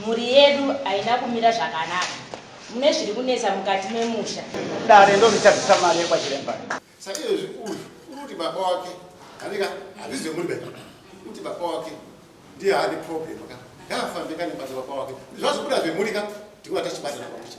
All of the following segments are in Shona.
Mhuri yedu haina kumira zvakanaka. Mune zviri kunetsa mukati memusha. Dare ndoritabisa mari yekwachiremba. Saka izvezvi uyu unoti baba wake anika hazvizi vemuri bebe kuti baba wake ndiye ane problem ka ngaafambe kane basa baba wake zvazobuda zvemuri ka ndikuva tachibatana pamusha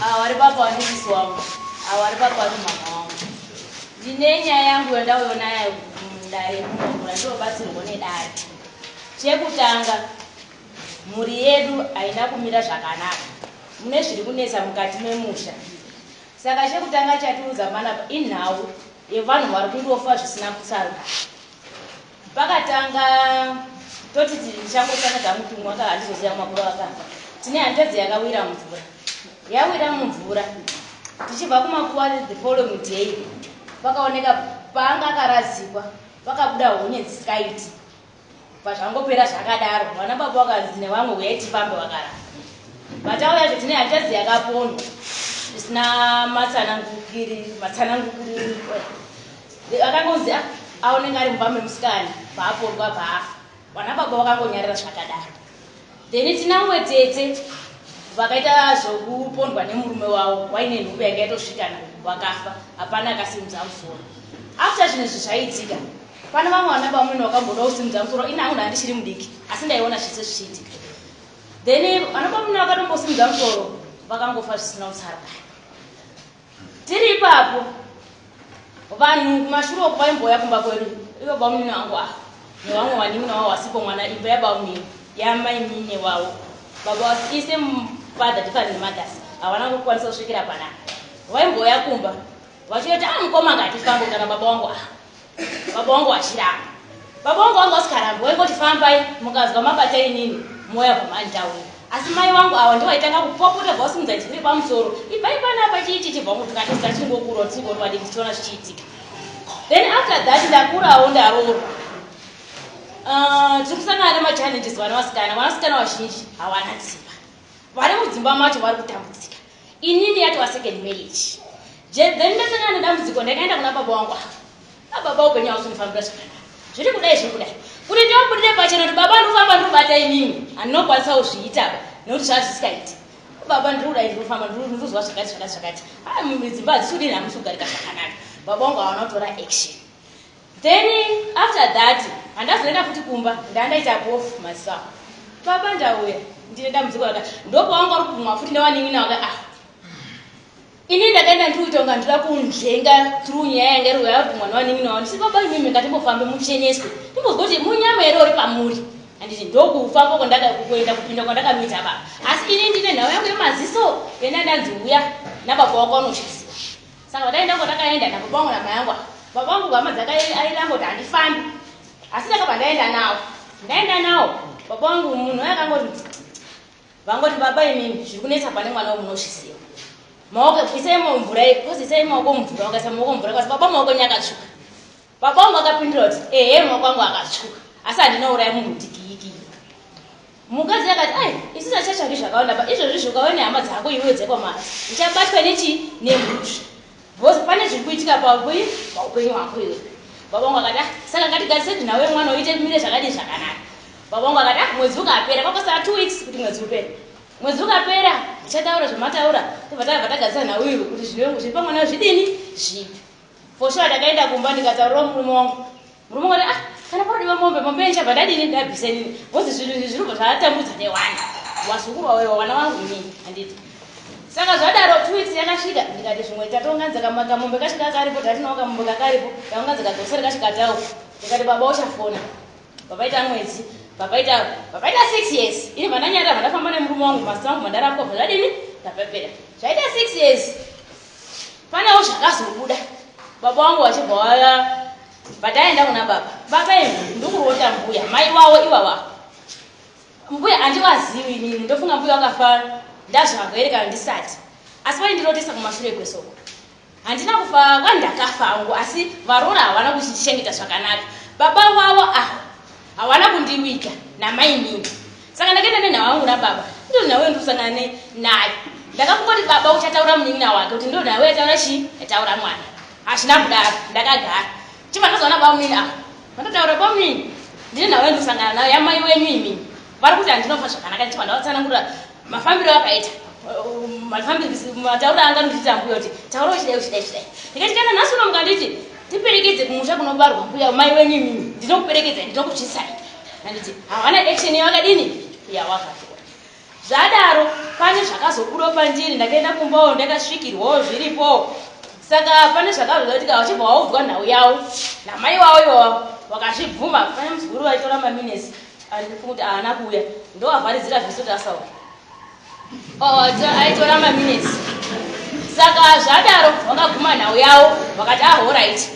Ava vari baba vane sisi wangu. Ava vari baba vane mhamha wangu. Ndine nyaya yangu yandauyo nayo mudare munomu yandinobatsirwa nedare. Chekutanga, mhuri yedu haina kumira zvakanaka. Mune zviri kunetsa mukati memusha. Saka chekutanga chatiudza panapa inhau yevanhu vari kungofa zvisina kutsarukana. Pakatanga toti ndichangotsvaka kamutumwa aka handizoziva makuru akafa. Tine hanzvadzi yakawira mvura. Yawira mumvura. Tichibva kumakuva the following day pakaoneka paanga akarazikwa pakabuda honye dzisikaiti. Pazvangopera zvakadaro vana baba vakanzi nevamwe huyai tifambe vakaramba. Vatauya zve tine hanzvadzi yakaponwa zvisina matsanangukiri matsanangukiri. Akangonzi ah ah unenge ari mumba memusikana paapondwa paafa. Vanababa vakangonyarara zvakadaro. Then tina mumwe tete vakaita zvokupondwa nemurume wavo waine nhumbu yanga yatosvikana vakafa hapana akasimudza musoro. After zvinhu izvi zvaiitika pane vamwe vanababa vamwene vakamboda kusimudza musoro ini hangu ndandichiri mudiki asi ndaiona zvese zvichiitika. Then vanababa vamwene vakatombosimudza musoro vakangofa zvisina kutsarukana. Tiri ipapo vanhu kumashure uku vaimbouya kumba kwedu ivo bamunini wangu a nevamwe vanin'ina wavo vasipo mwana imba yabamunini yamainini wavo baba ise father different mothers havana kukwanisa kusvikira panapa vaimbouya kumba vachiyoti a ah, mukoma ngati fambo kana baba wangu a ah. Baba wangu achiramba. Baba wangu wanga usikarambi waingoti fambai mukazwa mabata inini moya kumani tauni. Asi mai wangu awa ndivaitanga kupopota bvawasimudza chibiri pamusoro. Ibvai pana apa chii chichibva kuti katisa chingokurwa tisingori vadiki tichiona zvichiitika. Then after that ndakurawo ndaroorwa. Uh, tiri kusangana nemachallenges vana vasikana vanasikana vazhinji hawana dzimba vari mudzimba macho vari kutambudzika Inini yatova second marriage je then ndasangana nedambudziko ndakaenda kuna baba wangu ava. Ababa upenyu hausi kundifambira zvakanaka. Zviri kudai zviri kudai. Kuti ndivabudirire pachena kuti baba ndiri kufamba ndiri kubata imimi handinokwanisa kuzviita apa nekuti zvava zvisikaiti. Baba ndiri kudai ndiri kufamba ndiri ndiri kuzwa zvakati zvakati zvakati. Haa dzimba hadzisi kudini hamusi kugarika zvakanaka. Baba wangu hawana kutora action. Then after that handazoenda futi kumba ndandaita bof myself. Baba ndauya ndine dambudziko raka ndopawanga uri kumwa futi ndawanin'ina waka ah ini ndakaenda ndikuita kunga ndira kunzvenga through nyaya yanga iri yava kumwa newanin'ina wavo ndisi baba imimi ngatimbofambe mucheneswe timbozwa kuti munyama here uri pamuri handiti ndokufamba kwandakakuenda kupinda kwandakanoita baba asi ini ndine nhau yangu yemaziso yenda ndanzi uya nababa wako anochiziva Saka dai ndango ndakaenda nababa wangu namai yangu ava. Baba wangu hama dzake aida angoti handifambi. Asi ndakabva ndaenda nawo. Ndaenda nawo baba wangu munhu aye akangoti vangoti baba imimi zviri kunetsa pane mwana wemunoshisiwa. Maoko isai maoko mvura, kozi isai maoko mvura, wakaisa maoko mvura, kozi baba maoko nyakatsvuka. Baba wangu akapindura kuti ehe mwa kwangu akatsvuka asi handina uraya munhu dikiyiki. Mukadzi akati ai isu tachatsvaki zvakawanda pa izvozvi zvokawe nehama dzako iwe dzekwamari uchabatwa nechii nemhusvi bhozi pane zviri kuitika paui paupenyu hwako iwe. Baba wangu akati ah, saka ngatigarise kuti nawe mwana uite mire zvakadii zvakanaka. Baba wangu akati ah, mwedzi ukapera kwakosara two weeks kuti mwedzi upere mwedzi ukapera ndichataura zvamataura tobva tabva tagadzisa nhau iwe kuti zviri pamwana zvidini zvipi For sure ndakaenda kumba ndikataurirawo murume wangu. Murume wangu ah kana parodiwa mombe mombe yenyu chabva ndadini ndabvisa inini. Because zvinhu izvi zvinobva zvatambudza newani. Wazukuru wawe wana wangu inini handiti. Saka zvadaro two weeks yakasvika ndikati zvimwe tatonganza kama kamombe kacho kakaripo tatinawo kamombe kakaripo taunganza kagosere kacho katawo. Ndikati baba uchafona. Papaita mwedzi papaita papaita six years ini vandanyarira vandafamba nemurume wangu mazita angu mandarapwa bva zvadini ndapepera zvaita six years Panewo zvakazobuda baba wangu vachibva waya pataenda kuna baba baba imi ndikurota mbuya mai wawo ivava mbuya handivazivi inini ndofunga mbuya vakafa ndazvava here kana ndisati asi vaindirotesa kumashure kwesoko handina kufa kwandakafa angu asi varoora havana kuchichengeta zvakanaka baba wavo ava Hawana kundiwika namainini saka ndakaenda nenhau yangu nababa ndiri nhau yandikusangana ne nayo ndakakungoti baba uchataura munin'ina wake kuti ndiri nhau yataura chii yataura mwana hazvina kudaro ndakagara chibva ndazoona bamunini ava vatotaura bamunini ndiri nhau yandikusangana nayo yamai wenyu imini vari kuti handinofa zvakanaka ndichibva ndavatsanangurira mafambiro akaita mataura anga anotiita mbuya kuti taura uchidai uchidai uchidai ndikati kana nhasi uno mukanditi tiperekedze kumusha kunobarwa mbuya mai wenyu imimi ndinokuperekedza ndinokutyisai anditi hawana action yavakadini yawakatora zvadaro pane zvakazobuda pandiri ndakaenda kumbawo ndakasvikirwawo zviripowo saka pane zvakazoda kuti ka vachibva waudzwa nhau yavo namai wavo iwavo wakazvibvuma pane muzukuru vaitora maminesi Andifungi kuti haana kuuya ndovavharidzira vhisi kuti asauya. Oh, aitora maminutes. Saka zvadaro vakaguma nhau yavo vakati ah horaiti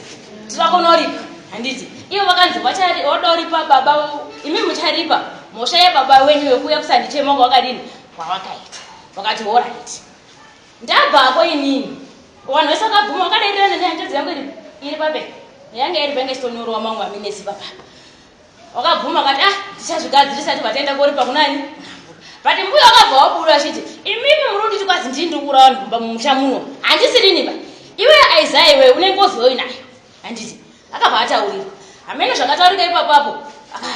tirakonoripa handiti ivo vakanzi vadoripa baba imi mucharipa mhosva yebaba wenyu wekuuya kusandichema wanga wakadini kwavakaita vakati horaiti ndabvako inini vanhu vese vakabvuma vakadairirana nehanjadzi yangu iri pape yanga iri pange chitonyorwa mangu aminesi papapa Wakabvuma akati ah ndichazvigadzirisa tibva taenda koripa kunani but mbuya wakabva wabuda achiti imimi muri kunditi kwazi ndini ndiri kuuraya vanhu kumba mumusha muno handisirini ba iwe aizaya iwe une ngozi yoi nayo handiti akabva ataurira hameno zvakataurika ipapapo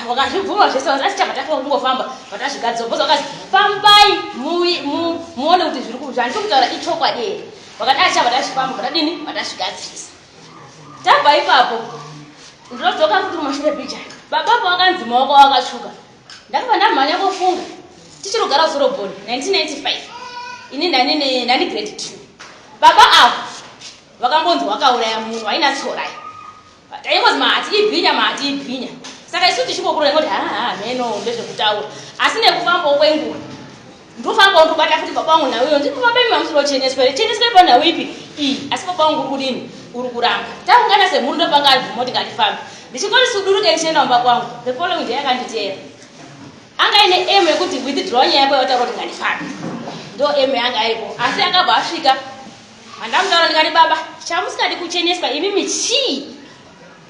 wakazvibvuma zvese vanzi asi chabva tafa kungofamba vatazvigadzisa bhozi vakazi fambai muone kuti zviri kuzvandiri kutaura ichokwadi here vakati asi chabva tazvifamba vatadini vatasvigadzirisa tabva ipapo ndinodzoka kuti kumashure picha baba apo wakanzi maoko wakatsvuka ndakabva ndamhanya kofunga tichiri kugara zoroboni 1995 ini ndani grade two baba avo vakambonzi wakauraya munhu waina tsorai taingozi mahati ibhinya mahati ibhinya saka isu tichikokurora ngoti haa mheno ndezvekutaura asi nekufambawo kwenguva ndofamba undobata futi baba wangu nhau iyo nditi baba imi mamusoro cheneswa here cheneswa ipa nhau ipi iyi asi baba wangu uri kudini uri kuramba taungana semhuri ndopanga ari bvumoti ngatifambe ndichingoti suduruke ndichienda mumba kwangu the following day akanditeera anga ine emu yekuti withdraw nyaya yako yataura kuti ngandifambe ndo emu yanga aripo asi akabva asvika handamutaura ndikati baba chamusingadi kucheneswa imimi chii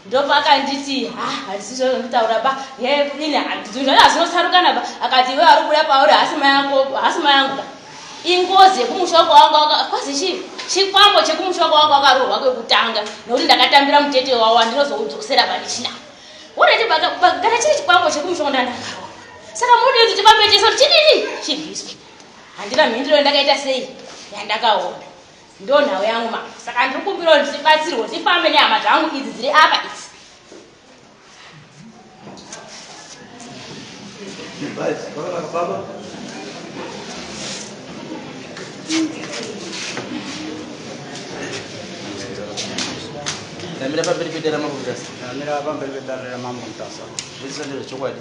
Ndopaakanditi ha handisi zvazvanditaura ba he kudini zvinhu zvacho hazvinosarukana ba akati iwe ari kubuda pauri hasi mai ako hasi mai angu ka ingozi yekumusha kwawangu kwazi chii chikwambo chekumusha kwawangu akarohwa kwekutanga nokuti ndakatambira mutete wawo andinozoudzosera panichina urati kana chiri chikwambo chekumusha kwandandakarwa saka mudii kuti chibambe chese kuti chidini chibviswe handina mhindiro yandakaita sei yandakaona Ndonhau yangu ma saka ndikumbirawo ndibatsirwe ndifambe nehama dzangu idzi dziri apa idzi. Ndamira pamberi pedare ramambo Mutasa. Ndamira pamberi pedare ramambo Mutasa. Zvese ndezvechokwadi.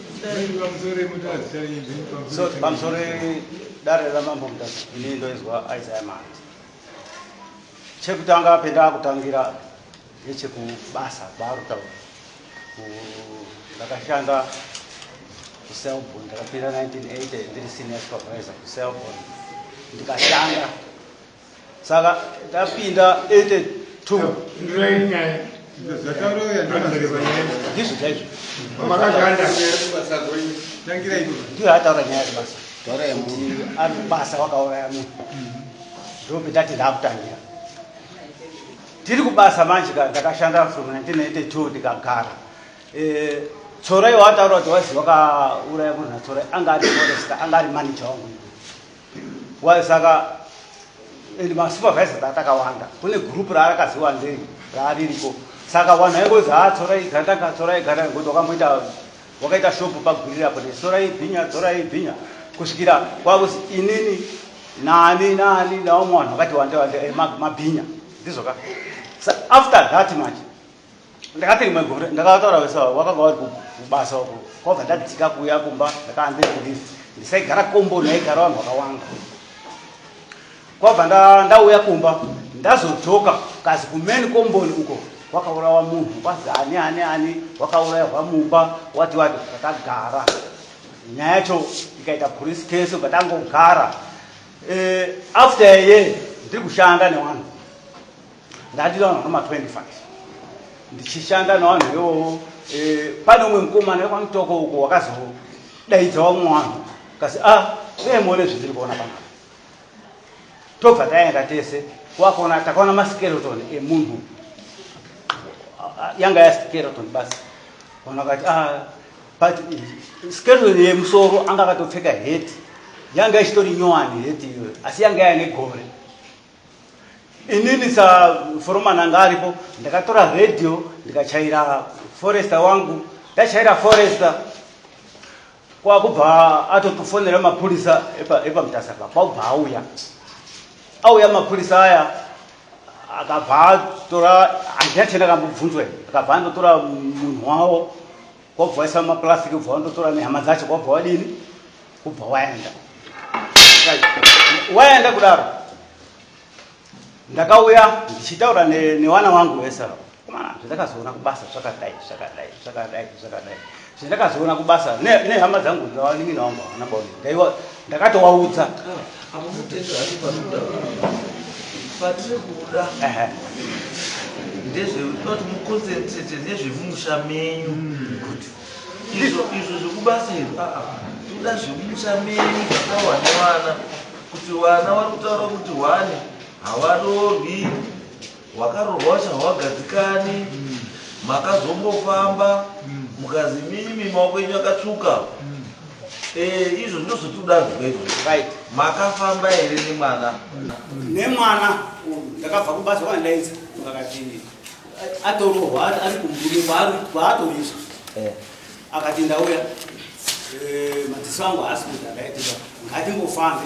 so pamusoro dare ramambo mutasa ini ndoizwa isaya mati chekutanga pendakutangira nechekubasa kwaarutaura ndakashanda kuselbon ndakapinda 1980 ndiri senior supervisor kuselbon ndikashanda saka tapinda 82 ndizvo chaizvo ndiyo ataura nyaya yebasa ari kubasa wakauraya munhu ndope tati ndakutangira tiri kubasa manje ndakashanda from 1982 ndikagara eh, tsorai wataura kuti wazi wakauraya munhu natsorai anga ari foresta anga ari manager wangu Why saka and ma supervisors atakawanda kune group raarakazi wandei raaririko saka wanhu aingozi ha ah, tsorai gandanga tsorai gandanga ngokuti wakamboita wakaita shopu pagwirira apo netsorai bhinya tsorai bhinya kusvikira kwakuzi inini nani nani nawo mwanhu wakati wande wande eh, mabhinya ndizvoka after that manje ndakati rimwe gore ndakataura vese wakanga wari kubasa uko kwabva ndadzika kuuya kumba ndakaanze kulive ndisaigara komboni yaigara vanhu vakawanda kwabva ndauya kumba ndazodzoka kazi kumeni komboni uko wakaurawa munhu kwazi ani ani ani wakaurayirwa mumba wati wati ndakagara nyaya yacho ikaita police case ukatangogara eh, after a year ndiri kushanda newanhu Ndadira vanhu vanoma 25 ndichishanda navanhu ivovo. Eh, pane umwe mukomana wekwaMutoko uko wakazodaidza vamwe vanhu kasi a ah, dai muone zvindiri kuona pano. Tobva taenda tese kwakuona takaona maskeleton emunhu yanga yaskeleton basi vanhu vakati a ah, but skeleton yemusoro anga akatopfeka heti yanga ichitori nyowani heti iyoyo asi yanga yaine gore inini sa foromani anga aripo ndakatora radio ndikachaira forester wangu ndachaira forester kwakubva atotofonera mapurisa epamutasa pa kwakubva auya auya mapurisa aya akabva atora handina chandakambobvunzwa akabva andotora munhu wavo kwabva waisa maplastic ubva wandotora nehama dzacho kwabva wadini kubva waenda waenda kudaro ndakauya ndichitaura newana wangu wese komana zvandakazoona kubasa zvakadai zvakadai zvakadai zvakadai zvandakazoona kubasa nehama dzangu dzawanin'ina wangu havana baoni ndaiwa ndakatowaudza patiri kuda ndezvekuti muconcentrate nezvemumusha menyu izvo izvo zvekubasa izvo aa toda zvemumusha menyu zvakawane vana kuti vana vari kutaura kuti hwani havarorwi Hwakaroorwa wacho hawagadzikani makazombofamba mukazi mimi maoko enyu akatsvuka eh izvo ndozvotiudanzwa izvo makafamba here nemwana nemwana ndakabva kubasa kwandaidza vakati atorohwa ari kumbuyo kwaatorizwa eh. akati ndauya eh, madziso angu haasi kuti akaitira ngatimbofambe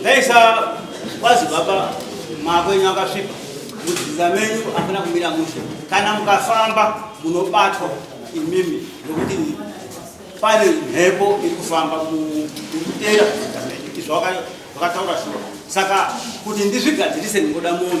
Ndaisa kwazi baba mako enyu akasvipa mudzidza menyu akuna kumira mushe kana mukafamba munobatwa imimi nokuti pane mhepo iri kufamba kutera izvo vakataura shuwa saka kuti ndizvigadzirise ndingoda munhu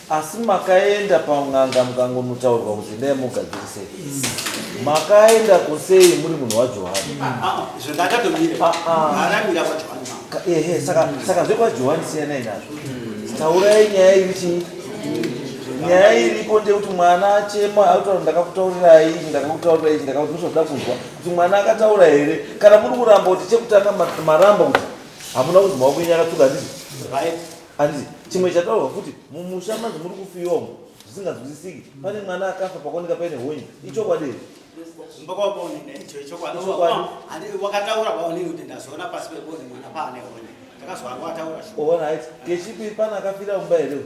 Asi makaenda pan'anga mukangonotaurwa kuti endai mugadzirise. Makaenda kusei muri munhu waJohani? Ah, ah, ah, izvo ndakatomira. Ah, ah. Haramira kwaJohani mama. Ka- Ehe, saka saka zvekwaJohani siyanai nazvo. Taurai nyaya iri chii? Nyaya iripo ndeyekuti mwana achema akutaura kuti ndakakutaurirai izvi, ndakakutaurirai izvi, ndakakuti ndozvoda kunzwa kuti mwana akataura here kana muri kuramba kuti chekutanga ma- maramba kuti hamuna kunzwa wakunyanya akatuka ndizvo Right. Hanzi chimwe chataurwa futi mumusha manje muri kufiwa umu zvisinganzwisisiki. Pane mwana akafa pakuoneka paine honye. Ichokwadi here? wakataura waonini kuti ndazoona pasi pebonde mwana paane honye ndakazwanga wataura Oona haiti kechipi pana akafira mumba here? uyu?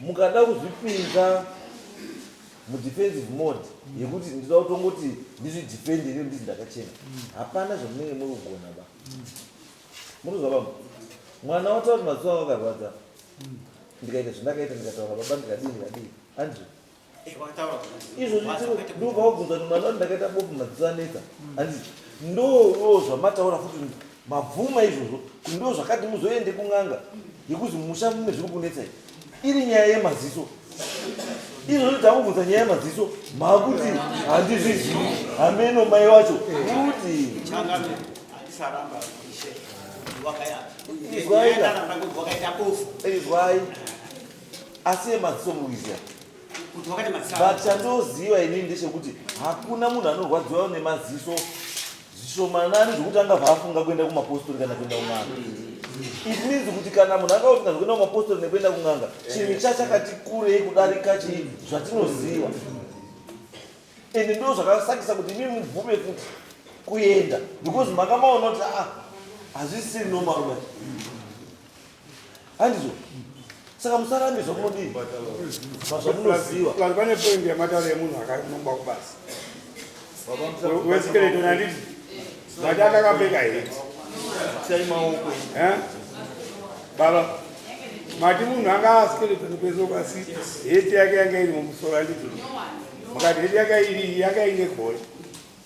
Mukada kuzvipinza mudefensive mode yekuti ndinoda kutongoti ndizvidefende nekuti ndizi ndakachena, hapana zvamunenge muri kugona ba. Munozwa baba, mwana wataura kuti maziso anga akarwadza ndikaita zvandakaita ndikataura baba ndikadii ndikadii Andrew izvozvi ndobva wabvunza kuti mwana wati ndakaita bofu madziso anetsa handiti ndoo zvamataura futi mabvuma izvozvo kuti ndo zvakati muzoende kun'anga yekuti musha mune zviri kunetsa iri nyaya yemaziso izvozvo takubvunza nyaya yemaziso makuti handizvizivi hameno mai wacho kuti izwai asi yemadziso muizia but chandoziva inini ndechekuti hakuna munhu anorwadziwa nemaziso zvishomanani zvekuti anga vaafunga kuenda kumapostori kana kuenda kun'anga it means kuti kana munhu anga usinga zvekuenda kumapostori nekuenda kun'anga chinhu chachakati kurei kudarika chii zvatinoziva and ndo zvakasakisa kuti imi mubvume futi kuenda because makamaona kuti ah, hazvisi normal man handizvo saka musarambe zvamunodii zvazvamunoziva vanhu vane poindi yematauro yemunhu akanongwa kubasa weskeletono handiti vati akakapfeka heti sai maoko eh? baba mati munhu anga askeletono kweso kwasi heti yake yanga iri mumusoro handiti mukati heti yaka iri yaka ine gore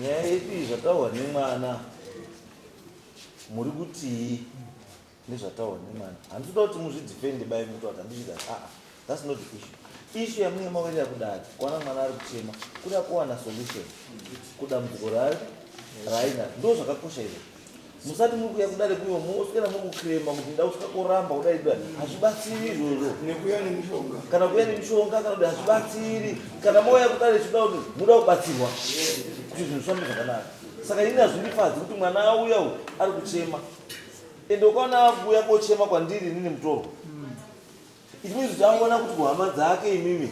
Nyaya yedu iyi zvataurwa nemwana muri kutii nezvataurwa nemwana handitoda kuti muzvidefende bai muti wati handichida aa ah, thats not the issue ishu yamunge mawerera kudari kuwana mwana ari kuchema kuda kuwana solution kudambudziko raari raina ndo zvakakosha izvo musati muri kuya kudare kuno moswera muri kuclaima kuti nda kusvika koramba kudai kudai hazvibatsiri izvozvo nekuya nemishonga kana kuya nemishonga kana kuti hazvibatsiri kana mouya kudare chida kuti muda kubatsirwa kuti zvinhu zvifambe zvakanaka saka ini hazvindifadzi kuti mwana auya u ari kuchema ende ukaona akuuya kochema kwandiri inini mutorwa It means kuti angoona kuti kuhama dzake imimi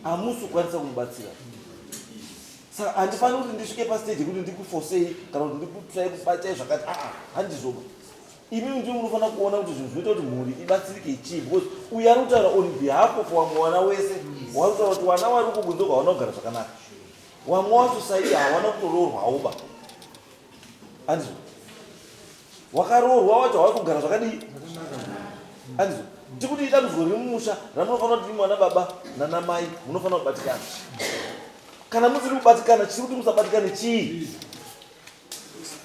hamusi kukwanisa kumubatsira saka handifaniri kuti ndisvike pastage yekuti ndikufosei kana kuti ndikutsvai kubatai zvakati aa ah, ah, handizoba imimi ndii munofanira kuona kuti zvinhu zvinoita kuti mhuri ibatsirike chii because uyo ari kutaura on behalf of wamwe wana wese wari kutaura kuti wana wari kukunze kwawana kugara zvakanaka wamwe wacho saiye hawana kutoroorwawoba Anzwa. Wakaroorwa wacho hawai kugara zvakadii? Anzwa. Tikuti idambudziko riri mumusha ramunofanira kuti mwana baba nana mai munofanira kubatikana. Kana musiri kubatikana chiri kuti musabatikane chii?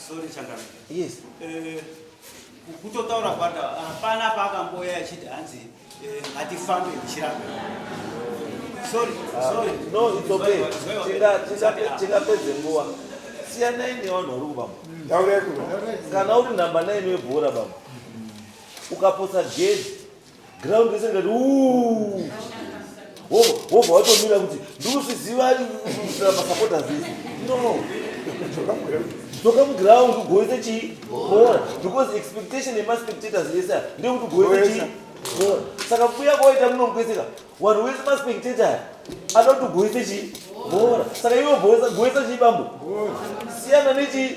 Sorry Changana. Yes. Uh... Kutotaura kwata hapana paakamboya achiti hanzi eh, ngatifambe ndichiramba. Sorry, ah, sorry. No, it's okay. Tingapedze nguva. Siyanai nevanhu vari kubamba. Kana uri namba 9 webhora bamba. Ukaposa gedi ground yese ngati wobva watomira kuti ndikusviziva masapota zii no toka muground ugoise chii bora because expectation yemaspectators yese ndekuti ugoise chii bora saka kuya kwaita munomukweseka wanhu wese maspectator anoti ugoise chii bora saka iwe goisa chii bambo siyana nechii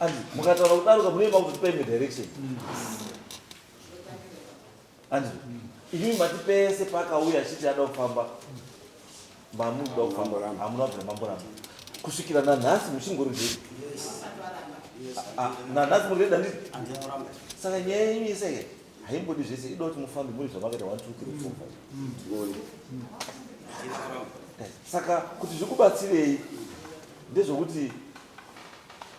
And mukataura kudaruka munoimba kuti tipe imwe direction. And imi mati pese paakauya achiti ada kufamba mamunoda kufamba hamuna kubvira mamboramba kusvikira nanhasi muchingori zvedu nanhasi muri reda ndii saka nyaya yenyu iseke haimbodi zvese ida kuti mufambe muri zvamakaita 1 2 3 4 saka kuti zvikubatsirei ndezvokuti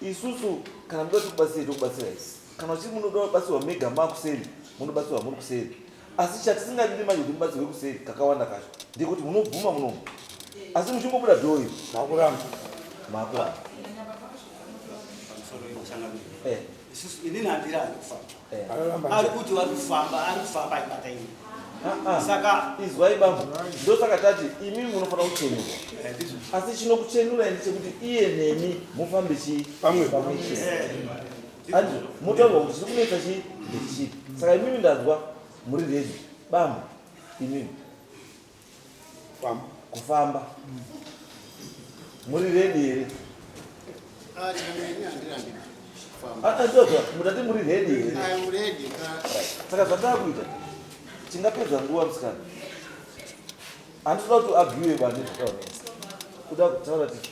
isusu kana muda kuti kubatsirei tokubatsirai kana uchiri munoda kubatsirwa mega makuseri munobatsirwa muri kuseri asi chatisingadiri manje kuti mubatsirwe kuseri kakawanda kacho ndekuti munobvuma munomu asi muchingobuda dhoyi makuramba makuramba eh. inini handira anofamba ari kuti vari kufamba ari kufamba aibata ini ah, ah. saka izwai bambo ndosaka tati imi munofanira kuchenurwa eh, asi chinokuchenurai ndichekuti iye nemi mufambe chii pamwe pamwe chii eh. andi motaurwa kuti chiri kunetsa chii ndechichipi saka imimi ndanzwa muri redi bambo imimi kufamba muri redi here ah, ah, ah, mutati muri redi here saka zvataa kuita tingapedza nguva musikana handitoda kuti agiwe vane zvakaonesa kuda kutaura titi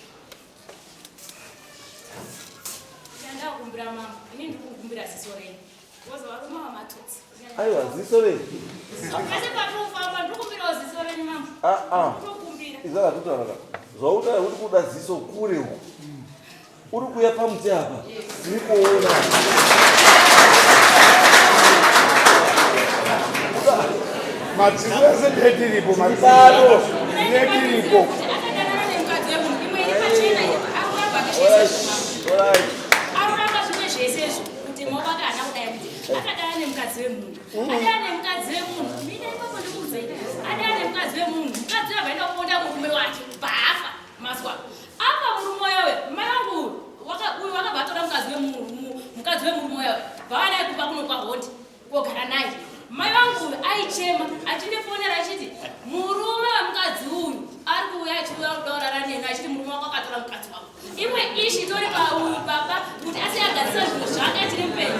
kumbira mama ini ndiri kukumbira sisorei aiwa ziso rei ah, ah. izara kutauraka zvautaura kuti kuda ziso kure uku uri kuya pamuti apa tiri kuona madziso ese ndetiripo madziso ndetiripo All right. kuti mobaka haana kudai kuti akadana nemukadzi wemunhu mm. adana nemukadzi wemunhu mina ipapo ndikuudzei adana nemukadzi wemunhu mukadzi uyo akaenda kuponda murume wake baafa mazwa apa murume uyowe mai vangu uyu wakabva atora mukadzi wemunhu mukadzi wemurume uyowe vavanai kupa kuno kwahondi kogara naye mai vangu uyu aichema achindifonera achiti murume wemukadzi uyu ari kuuya achiuya kudaurara neni achiti murume wako akatora mukadzi wako imwe ishi itori pauyu baba kuti asi agadzisa zvinhu zvake achiri mupenyu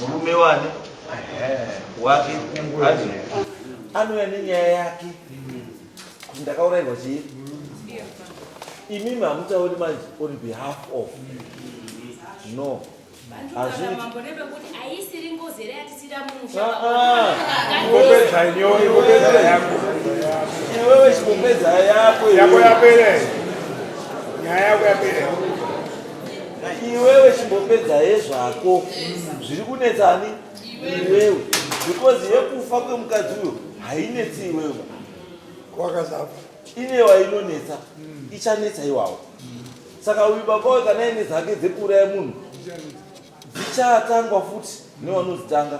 murume wani wake ati anouya nenyaya yake kuti ndakaurairwa chii imimi hamutauri manje on behalf of no iwewe chipopedza yako yako yapere nyaya yako yapere iwewe chimbopedza hezvako zviri kunetsa ani iwewe because yekufa kwemukadzi uyo hainetsi iwewe kwakazapa inewa inonetsa ichanetsa iwawo saka uyu baba we kana ine dzake dzekuuraya munhu dzichatangwa futi nevanozitanga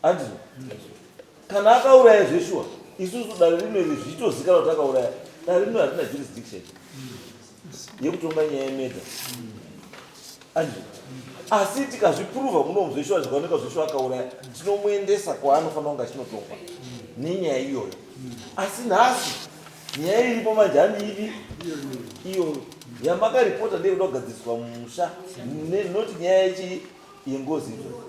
andino kana akauraya zveshuwa isusu dare rino iri zvitozikana kuti akauraya dare rino harina jurisdiction yekutonga nyaya yemedha andi asi tikazvipuruva muno muzoishuva zvikaoneka zvoishuva akauraya tinomuendesa kwaanofanira kunge achinotongwa nenyaya iyoyo asi nhasi nyaya iripo manje handi ivi iyoyo yamakaripota ndeyekuda kugadziriswa musha not nyaya yechii yengozi iyoyo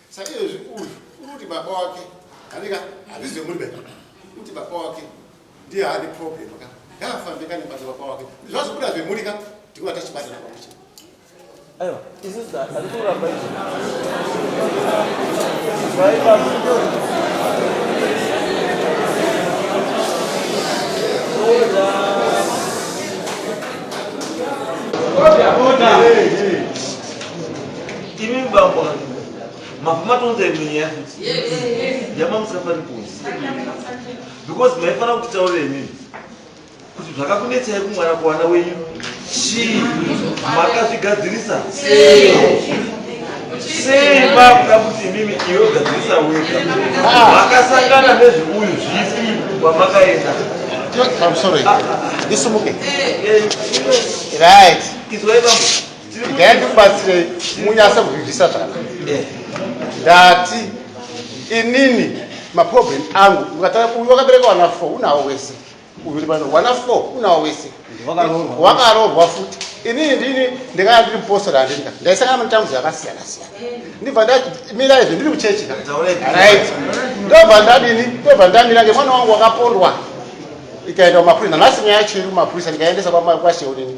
Saizvezvi uyu unoti baba wake anika hazvizi zvemuri beka kuti baba wake ndiye haane problem ka ngaafambe ka nebasa baba wake zvazobuda zvemuri ka tikuva tachibatana pamuche aiwa isisi ari kuramba izvi Order, order. Hey, hey. Imi bambo vanhu mabva matonza imwe nyaya futi yama musafani kunzi because maifanira kuti taurire nini kuti zvakakunetsai kumwana kuwana wenyu chii makazvigadzirisa sei makuda kuti imimi iwe ugadzirisa wega makasangana nezveuyu zvipi kwamakaenda I'm sorry. This is okay. Right. It's way Igai ndikubatsirei munyase kuzvizvisa zvaka ndati inini maproblem angu ukatara uyu wakabereka wana four unawo wese uyu uri pano wana four unawo wese wakaroorwa futi inini ndini ndikanga ndiri mupostori handinga ndaisangana matambudzo akasiyana siyana ndibva ndamira izvo ndiri muchechi ka rit ndobva ndadini ndobva ndamira ngemwana wangu wakapondwa ikaenda kumapurisa nanhasi nyaya yacho iri kumapurisa ndikaendesa kwasheonini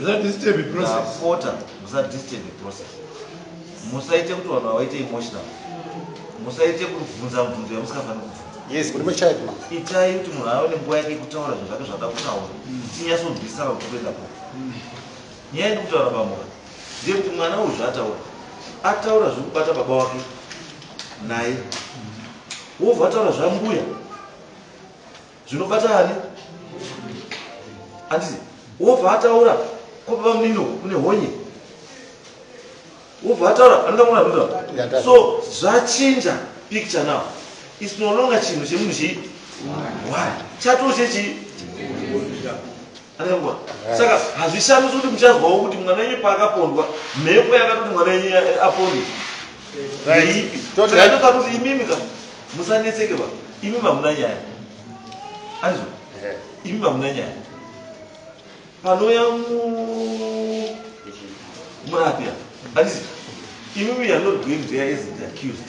ndapota musadisturbe process musaite kuti vanhu vavaite emotional musaite kubvunza mubvunzo yamusingafaniri kubvunza itai kuti munhu ave nenguva yake kutaura zvinhu zvake zvada kutaura tinyatsonzwisisana kuti kuenda ko nyaya yedu kutaura pamhura ndeyekuti mwana uyu zvaataura ataura zviri kubata baba wake naye wobva ataura zvambuya zvinobata ani anditi wobva ataura kopa vamunino kune honye wobva ataura anoda mwana anoda so zvachinja picture now is no longer chinhu chemunhu chii why chatoo chechii Arengwa. Saka hazvishamisi kuti muchazwawo kuti mwana wenyu paakapondwa mhepo yakatoti mwana wenyu apondwe. Ndeipi? Saka ndoda kuti imimi ka musanetseke ba. Imimi hamuna nyaya. Anzwa. Imimi hamuna nyaya. Panouya mu murapi apa. Anzwa. Imimi you are not going there as the accused.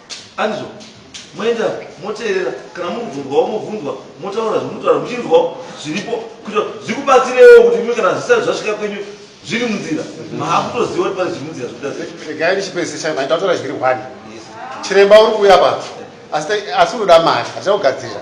Andizvo? Moenda moteerera, kana muri kubvunzwawo mobvunzwa, motaura zvomunotaura muchinzwawo zviripo kuitira kuti zvikubatsirewo kuti imwe kana zvisati zvasvika kwenyu zviri munzira maakutoziva kuti pane zviri munzira zvekuita sei. Regai ndichipedzisa manje tatora zviri one. Chiremba uri kuuya apa asi unoda mari, hatichakugadzirira.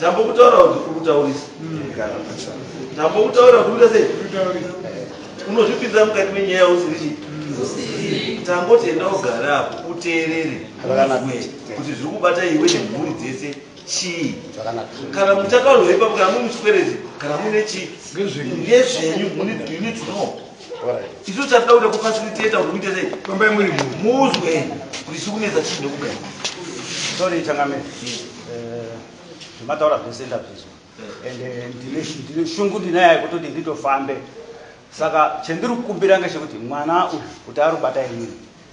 tambokutaura kuti kurikutaurisa tambokutaura kurikuita sei unozvipinza mukati menyaya yausiri chii tangoti enda ugara apo uteerere kuti zviri kubata iwe nemhuri dzese chii kana muchataurwa ipapo kana mune chikwerezi kana mune chii nezvenyu you need to know Isu chatida kuda kufaciliteta kuti muite sei? Fambai muri mhuri. Muzwe kuti chiri kunetsa chii nekugara. Sorry changamire. Eh, zvemataura zvese ndazvizwa. And eh, ndine sh- ndine shungu ndinayo yekutoti nditofambe. Saka chendiri kukumbira ngechekuti mwana uyu kuti arubata imini.